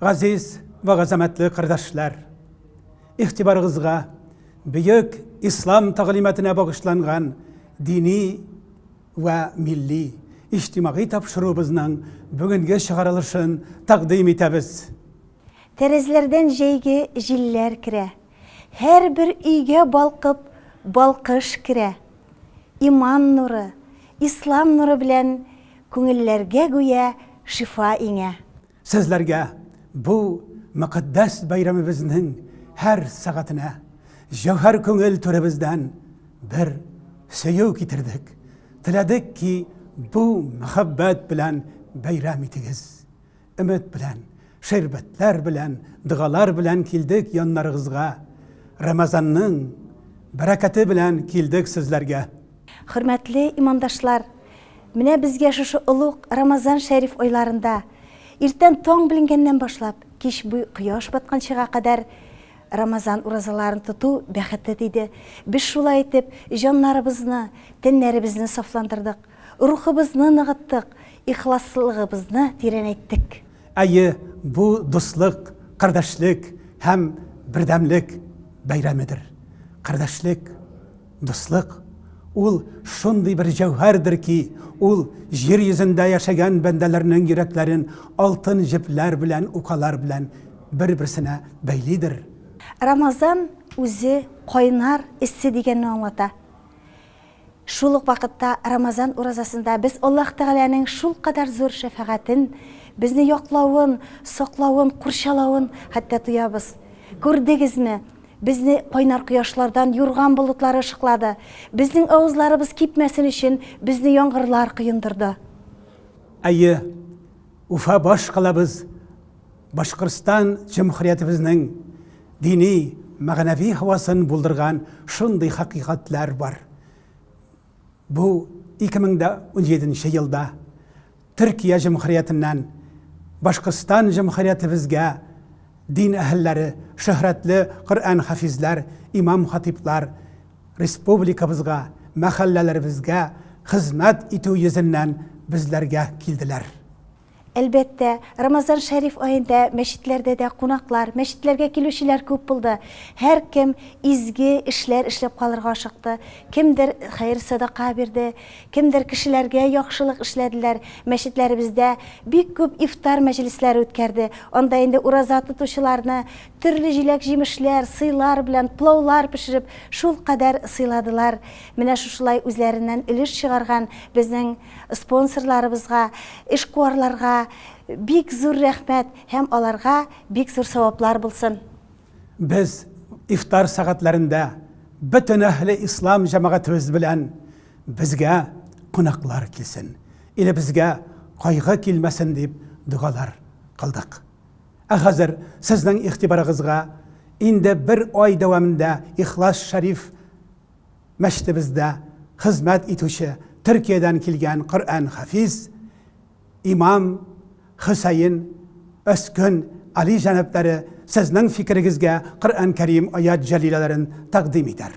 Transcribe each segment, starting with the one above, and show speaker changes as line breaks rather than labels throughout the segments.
Газиз ва газамәтле кардәшләр, игътибарыгызга бөек ислам тәгълиматына багышланган дини ва милли иҗтимагый тапшыруыбызның бүгенге чыгарылышын тәкъдим итәбез. Тәрәзләрдән
җәйге җилләр керә. Һәрбер өйгә балкып балкыш керә. Иман нуры, Ислам нуры белән күңелләргә гүя шифа иңә. Сезләргә
бу мөкатдәс бәйрәмебезнең һәр сәгатенә җәүһәр күңел түребездән бер сөю китердек. Теләдек ки, бу мәхәббәт белән бәйрәм итегез. Өмет белән, шәрбәтләр белән, догалар белән килдек яннарыгызга. Рамазанның бәрәкәте белән килдек сезләргә. Хөрмәтле
имандашлар! Менә безгә шушы олуг Рамазан шәриф айларында, иртән таң беленгәннән башлап, кич буй кояш батканчыга кадәр Рамазан уразаларын тоту бәхете тиде. Без шулай итеп җаннарыбызны, тәннәребезне сафландырдык. Рухыбызны ныгыттык, ихласлыгыбызны тирәнәйттек. Әйе,
бу дуслык, кардәшлек һәм бердәмлек бәйрәмедер. Кардәшлек, дуслык, ул шундый бер җәүһәрдер ки, ул җир йөзендә яшәгән бәндәләрнең йөрәкләрен алтын җепләр белән, укалар белән бер-берсенә бәйлидер. Рамазан
үзе кайнар эссе дигәнне аңлата. Шул ук вакытта Рамазан уразасында без Аллаһ Тәгаләнең шулкадәр зур шәфәгатен, безне яклавын, саклавын, курчалавын хәтта тоябыз. Күрдегезме, безне кайнар кояшлардан юрган болытлары ышыклады, безнең авызларыбыз кипмәсен өчен безне яңгырлар коендырды. Әйе,
Уфа баш калабыз Башкортстан җөмһүриятебезнең дини, мәгънәви һавасын булдырган шундый хакыйкатьләр бар. Бу 2017 елда Төркия җөмһүриятеннән Башкортстан җөмһүриятебезгә дин әһелләре, шөһрәтле Коръән хафизләр, имам-хатыйблар республикабызга, мәхәлләләребезгә хезмәт итү йөзеннән безләргә килделәр. Әлбәттә,
Рамазан Шәриф аенда мәчетләрдә дә кунаклар, мәчетләргә килүчеләр күп булды. Һәркем изге эшләр эшләп калырга ашыкты. Кемдер хәер-садака бирде, кемдер кешеләргә яхшылык эшләделәр. Мәчетләребездә бик күп ифтар мәҗлесләре үткәрде. Анда инде ураза тотучыларны төрле җиләк-җимешләр, сыйлар белән плаулар пешереп, шулкадәр сыйладылар. Менә шушылай үзләреннән өлеш чыгарган безнең Спонсорларыбызга, эшкуарларга бик зур рәхмәт һәм аларга бик зур саваплар булсын! Без
ифтар сәгатьләрендә бөтен әһле ислам җәмәгатебез белән безгә кунаклар килсен, илебезгә кайгы килмәсен дип догалар кылдык. Ә хәзер сезнең игътибарыгызга инде бер ай дәвамында Ихлас Шәриф, Мәчетебездә хезмәт итүче Төркиядән килгән Коръән хафиз, имам Хөсәен, Өскөн, Али җәнапләре сезнең фикерегезгә Коръән Кәрим аят җәлиләләрен тәкъдим итәр.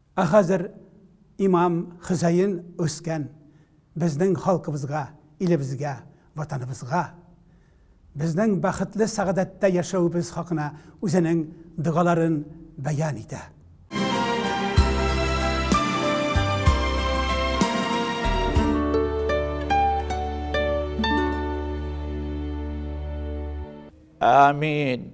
Ә хәзер имам Хөсәен үскән безнең халкыбызга, илебезгә, Ватаныбызга, безнең бәхетле сәгадәттә яшәвебез хакына үзенең догаларын бәян итә.
Амин!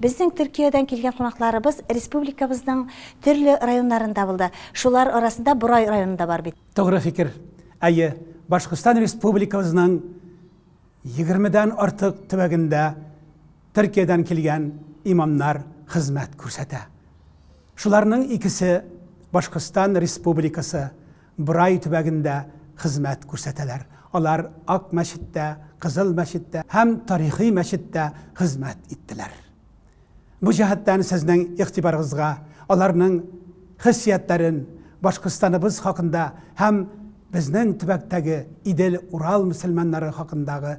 Безнең Төркиядән килгән кунакларыбыз республикабызның төрле районнарында булды. Шулар арасында Борай районы да бар бит. Тугры фикер.
Әйе, Башкортстан Республикабызның егермедән артык төбәгендә Төркиядән килгән имамнар хезмәт күрсәтә. Шуларның икесе Башкортстан Республикасы Брай төбәгендә хезмәт күрсәтәләр. Алар Ак мәчеттә, Кызыл мәчеттә һәм Тарихи мәчеттә хезмәт иттеләр. Бу җәһәттән сезнең игътибарыгызга аларның хиссиятләрен, Башкортстаныбыз хакында һәм безнең төбәктәге Идел-Урал мөселманнары хакындагы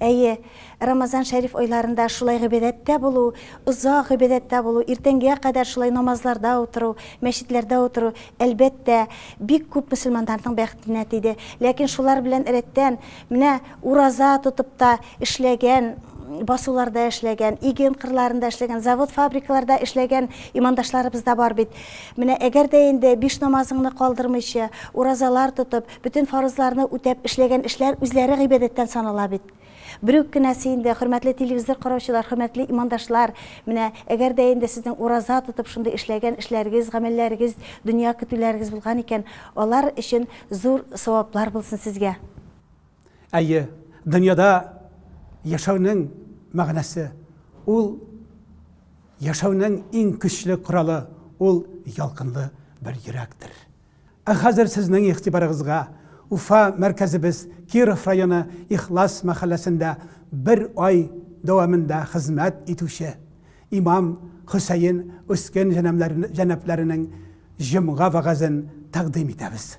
Әйе, Рамазан шәриф айларында шулай гыйбадәттә булу, озак гыйбадәттә булу, иртәнгегә кадәр шулай намазларда утыру, мәчетләрдә утыру, әлбәттә, бик күп мөселманнарның бәхетенә тиде. Ләкин шулар белән рәттән, менә ураза тотып та эшләгән, басуларда эшләгән, иген кырларында эшләгән, завод-фабрикаларда эшләгән имандашларыбыз да бар бит. Менә әгәр дә инде биш намазыңны калдырмыйча, уразалар тотып, Бөтен фарызларны үтәп, эшләгән эшләр үзләре гыйбадәттән санала бит. Бер үк кенәсе инде, хөрмәтле телевизор караучылар, хөрмәтле имандашлар, менә әгәр дә инде сезнең ураза тотып шундый эшләгән эшләрегез, гамәлләрегез, дөнья көтүләрегез булган икән, алар өчен зур саваплар булсын сезгә.
Әйе, дөньяда яшәүнең мәгънәсе, ул яшәүнең иң көчле коралы, ул ялкынлы бер йөрәктер. Ә хәзер сезнең игътибарыгызга Уфа мәркәзебез Киров районы Ихлас мәхәлләсендә бер ай дәвамында хезмәт итүче имам Хөсәен Өскен җәнәпләренең җомга вәгазен тәкъдим итәбез.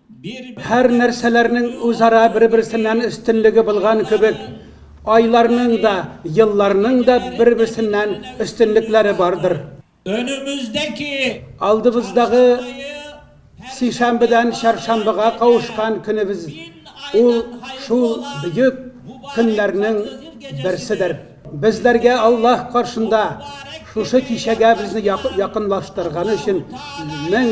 Һәр нәрсәләрнең үзара бер-берсеннән өстенлеге булган кебек, айларның да, елларның да бер-берсеннән өстенлекләре бардыр.
Алдыбыздагы
сишәмбедән чаршамбыга кавышкан көнебез ул шул бөек көннәрнең берседер. Безләргә Аллаһ каршында шушы кичәгә безне якынлаштырганы өчен мең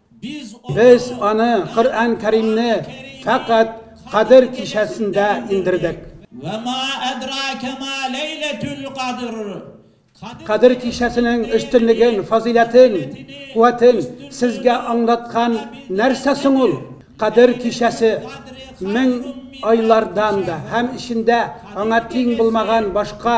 Без аны, Коръән Кәримне, фәкать Кадер кичәсендә иңдердек. Вә ма
әдрәкә ма ләйләтүл кадр. Кадер
кичәсенең өстенлеген, фазыйләтен, куәтен сезгә аңлаткан нәрсә соң ул? Кадер кичәсе мең айлардан да һәм эчендә аңа тиң булмаган башка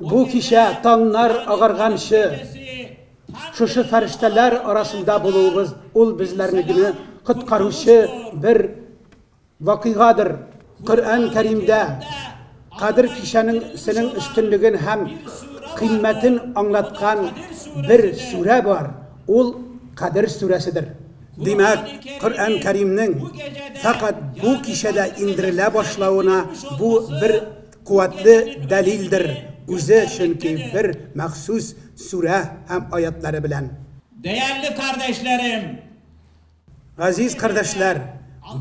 Бу кичә таңнар агарганчы шушы фәрештәләр арасында булуыбыз ул безләрне генә коткаручы бер вакыйгадыр. Коръән Кәримдә Кадер кичәнең сенең өстенлеген һәм кыйммәтен аңлаткан бер сүрә бар, ул Кадер сүрәседер. Димәк, Коръән Кәримнең фәкать бу кичәдә иңдерелә башлавына бу бер Куәтле дәлилдер үзе, чөнки бер махсус сүрә һәм аятьләре белән. Дәярле
кардәшләрем!
Газиз кардәшләр!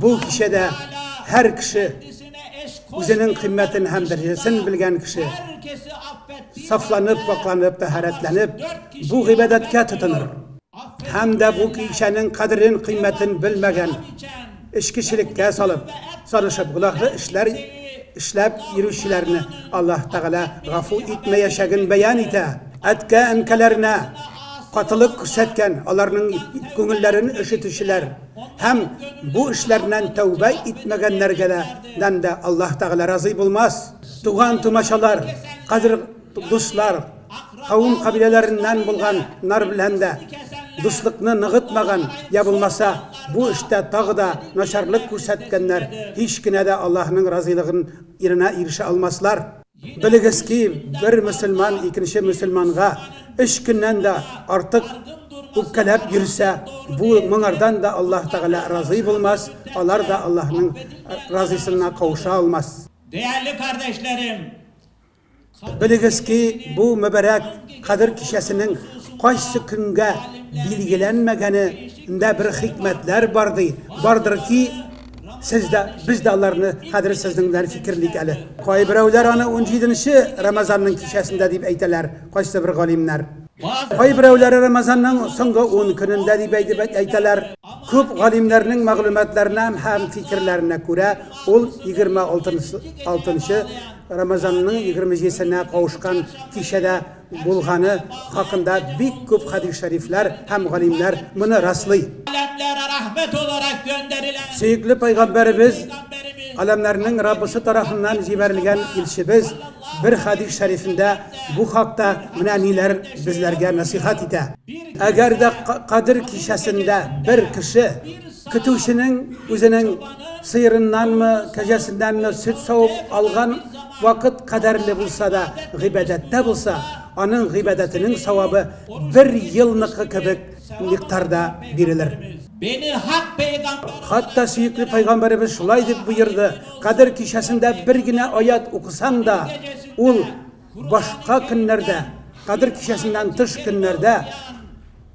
Бу кичәдә һәр кеше, үзенең кыйммәтен һәм дәрәҗәсен белгән кеше,
сафланып, пакьланып,
тәһарәтләнеп, бу гыйбадәткә тотыныр. Һәм дә бу кичәнең кадерен, кыйммәтен белмәгән, эчкечелеккә салып, сарышып, гөнаһлы эшләр эшләп йөрүчеләрне Аллаһ Тәгалә гафу итмәячәген бәян итә. Әткә-әнкәләренә катылык күрсәткән, аларның күңелләрен өшетүчеләр һәм бу эшләреннән тәүбә итмәгәннәргә дә Аллаһ Тәгалә разый булмас. Туган-тумачалар, кадер. Дуслар, кавым кабиләләреннән булган нар белән дә дуслыкны ныгытмаган я булмаса бу эштә тагы да начарлык күрсәткәннәр һич кенә дә Аллаһының разыйлыгын иренә ирешә алмаслар. Белегез ки, бер мөселман икенче мөселманга өч көннән дә артык үпкәләп йөрсә, бу моңардан да Аллаһ Тәгалә разый булмас, алар да Аллаһның разыйсынына кавыша алмас. Дәярле
кардәшләрем!
Белегез ки, бу мөбарәк Кадер кичәсенең кайсы көнгә билгеләнмәгәне ндә бер хикмәтләр бар ди, бардыр ки, сез дә, без дә аларны хәзер сезнең белән фикерлик әле. Кайберәүләр аны унҗиденче Рамазанның кичәсендә дип әйтәләр, кайсы бер галимнәр. Кайберәүләре Рамазанның соңгы ун көнендә дип әйтәләр. Күп галимнәрнең мәгълүматларына һәм фикерләренә күрә, ул егерме алтынчы Рамазанның егерменҗесенә кавышкан кичәдә булганы хакында бик күп хәдис шәрифләр һәм галимнәр моны раслый.
Сөекле пәйгамбәребез,
галәмнәрнең Раббысы тарафыннан җибәрелгән илчебез бер хәдис шәрифендә бу хакта менә ниләр безләргә нәсыйхәт итә, Әгәр дә Кадер кичәсендә бер кеше, Көтүченең үзенең сыерыннанмы, кәҗәсеннәнме сөт савып алган вакыт кадәрле булса да гыйбадәттә булса, аның гыйбадәтенең савабы бер елныкы кебек микъдарда бирелер.
Хатта сөекле
пәйгамбәребез шулай дип боерды, Кадер кичәсендә бер генә аять укысаң да, ул башка көннәрдә, Кадер кичәсеннән тыш көннәрдә,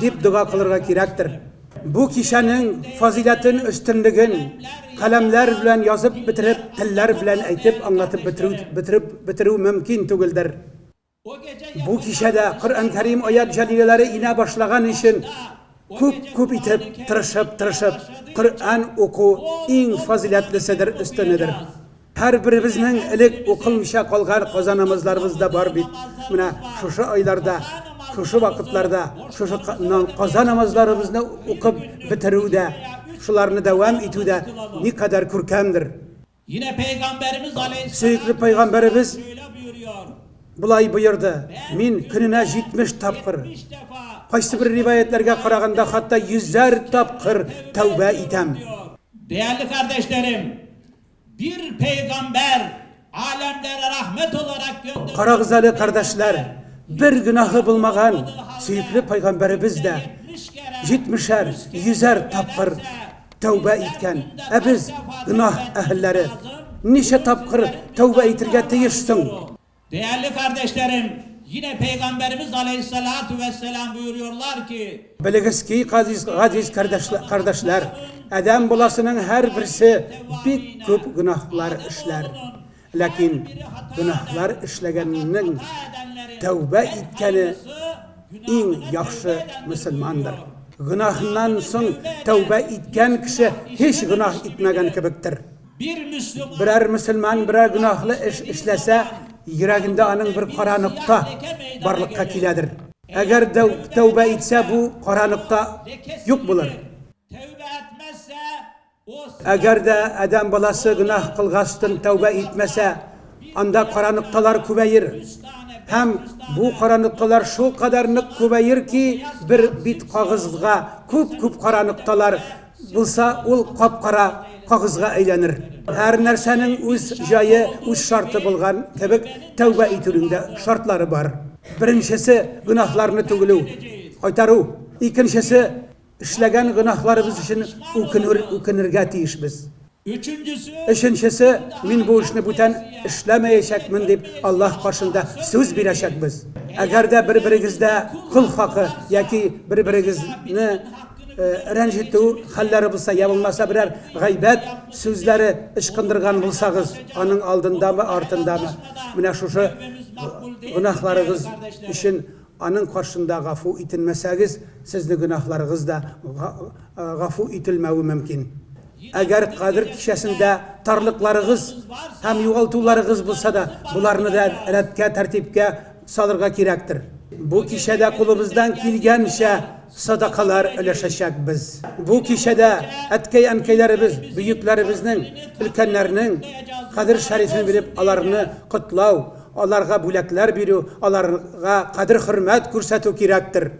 дип дога кылырга кирәктер. Бу кичәнең фазыйләтен, өстенлеген каләмнәр белән язып бетереп, телләр белән әйтеп аңлатып бетерү бетереп бетерү мөмкин түгелдер.
Бу кичәдә
Коръән Кәрим аят җәлиләләре инә башлаган өчен күп-күп итеп тырышып-тырышып Коръән уку иң фазыйләтлеседер, өстенедер. Һәрберебезнең элек укылмыйча калган казанымызларыбыз да бар бит. Менә шушы айларда, шушы вакытларда шушы казанымызларыбызны укып бетерү дә, шуларны дәвам итү дә никадәр күркәмдер.
Сөекле пәйгамбәребез болай боерды,
Мин көненә 70 тапкыр, кайсыбер риваятьләргә караганда, хәтта йөзәр тапкыр тәүбә итәм. Дәярле
кардәшләрем, Бир пәйгамбәр, аләмләрә рәхмәт оларак гөндә. Карагыз әле, кардәшләр,
бер гөнаһы булмаган сөекле пәйгамбәребез дә җитмешәр, йөзәр тапкыр тәүбә иткән. Ә без, гөнаһ әһелләре, ничә тапкыр тәүбә итергә тиеш соң? Дәярле
кардәшләрем, йинә Пәйгамбәребез галәйһиссәлату вәссәлам боерыйлар ки. Белегез ки,
газиз кардәшләр, адәм баласының һәрберсе бик күп гөнаһлар эшләр. Ләкин гөнаһлар эшләгәннең тәүбә иткәне иң яхшы мөселмандыр. Гөнаһыннан соң тәүбә иткән кеше һич гөнаһ итмәгән кебектер.
Берәр мөселман
берәр гөнаһлы эш эшләсә, йөрәгендә аның бер кара нокта барлыкка киләдер. Әгәр дә тәүбә итсә, бу кара нокта юк булыр.
Әгәр дә
адәм баласы гөнаһ кылгачтын тәүбә итмәсә, анда кара нокталар күбәер. Һәм бу кара нокталар шулкадәр нык күбәер ки, бер бит кагызга күп-күп кара нокталар Булса, ул кап-кара кагызга әйләнер. Һәр нәрсәнең үз җае, үз шарты булган кебек, тәүбә итүнең дә шартлары бар. Беренчесе, гөнаһларны түгелү, кайтару. Икенчесе, эшләгән гөнаһларыбыз өчен үкенүр, үкенергә тиешбез. Өченчесе. Өченчесе, мин бу эшне бүтән эшләмәячәкмен дип Аллаһ каршында сүз бирәчәкбез. Әгәр дә бер-берегездә кол хакы яки бер-берегезне рәнҗетү хәлләре булса, я булмаса берәр гайбәт сүзләре ычкындырган булсагыз, аның алдындамы, артындамы, менә шушы гөнаһларыгыз өчен Аның каршында гафу ителмәсәгез, сезне гөнаһларыгыз да гафу ителмәве мөмкин. Әгәр Кадер кичәсендә тарлыкларыгыз һәм югалтуларыгыз булса да, боларны да рәткә, тәртипкә салырга кирәктер. Бу кичәдә кулыбыздан килгәнчә садакалар өләшәчәкбез. Бу кичәдә әткәй-әнкәйләребез, бөекләребезнең, өлкәннәрнең Кадер шәрифен белеп, аларны котлау, Аларга бүләкләр бирү, аларга кадер-хөрмәт күрсәтү кирәктер.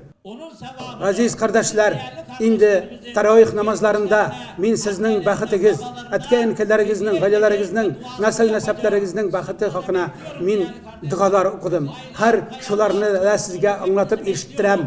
Газиз кардәшләр, инде тәраих намазларында мин сезнең бәхетегез, әткә-әнкәләрегезнең, гаиләләрегезнең, нәсел-нәсәпләрегезнең бәхете хакына мин догалар укыдым. Хәер, шуларны да сезгә аңлатып ишеттерәм.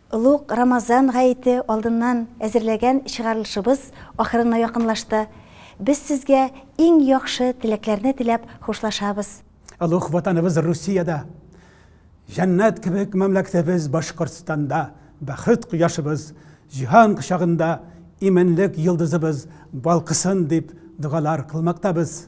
Олуг Рамазан гаете алдыннан әзерләгән чыгарылышыбыз ахырына якынлашты. Без сезгә иң яхшы теләкләрне теләп хушлашабыз. Олуг
Ватаныбыз Русиядә, җәннәт кебек мәмләкәтебез Башкортстанда, бәхет кояшыбыз, җиһан кочагында иминлек йолдызыбыз балкысын дип догалар кылмактабыз.